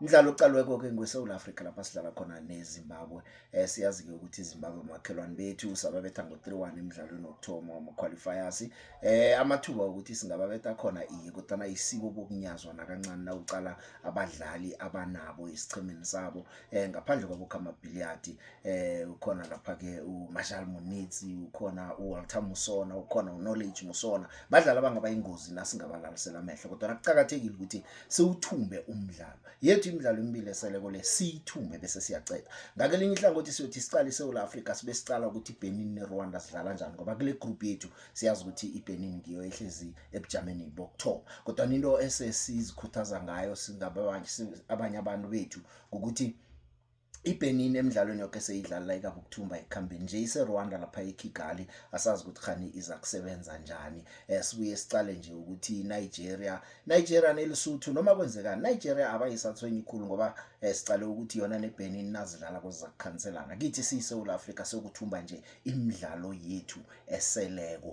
Umdlalo uqalweko ke ngweSouth Africa lapha sidlala khona neZimbabwe. Eh siyazi ke ukuthi iZimbabwe umakhelwane bethu sababetha ngo-3-1 emidlalweni wokuthoma wama-qualifiers. Eh amathuba ukuthi singababetha khona iye kodwa isiko bokunyazwa nakancane nawuqala abadlali abanabo esichimini sabo. Eh ngaphandle kwabo Khama Billiard eh ukhona lapha ke uMarshall Munitsi, ukhona uWalter Musona, ukhona uKnowledge Musona. Badlali abangabayingozi nasingabalalisela amehlo kodwa kuqhakathekile ukuthi siwuthumbe umdlalo yethu imidlalo emibili esele kole siyithume bese siyaceda ngakelinye ihlangothi siyothi siqale iSouth Africa sibe siqala ukuthi iBenin neRwanda sidlala njani ngoba kule group yethu siyazi ukuthi iBenin ngiyo ehlezi ebujameni bokuthoba kodwa into esesizikhuthaza ngayo singababanye abanye abantu bethu ukuthi ibenin emidlalweni yoke seyidlala la ikapha ukuthumba ekuhambeni nje iserwanda lapha ekigali asazi ukuthi khani iza kusebenza njani um sibuye sicale nje ukuthi inigeria nigeria nelisuthu noma kwenzekani nigeria abayisathwenyi khulu ngoba um sicale ukuthi yona nebenin nazidlala koziza kukhanselana kithi siyisewula afrika sekuthumba nje imidlalo yethu eseleko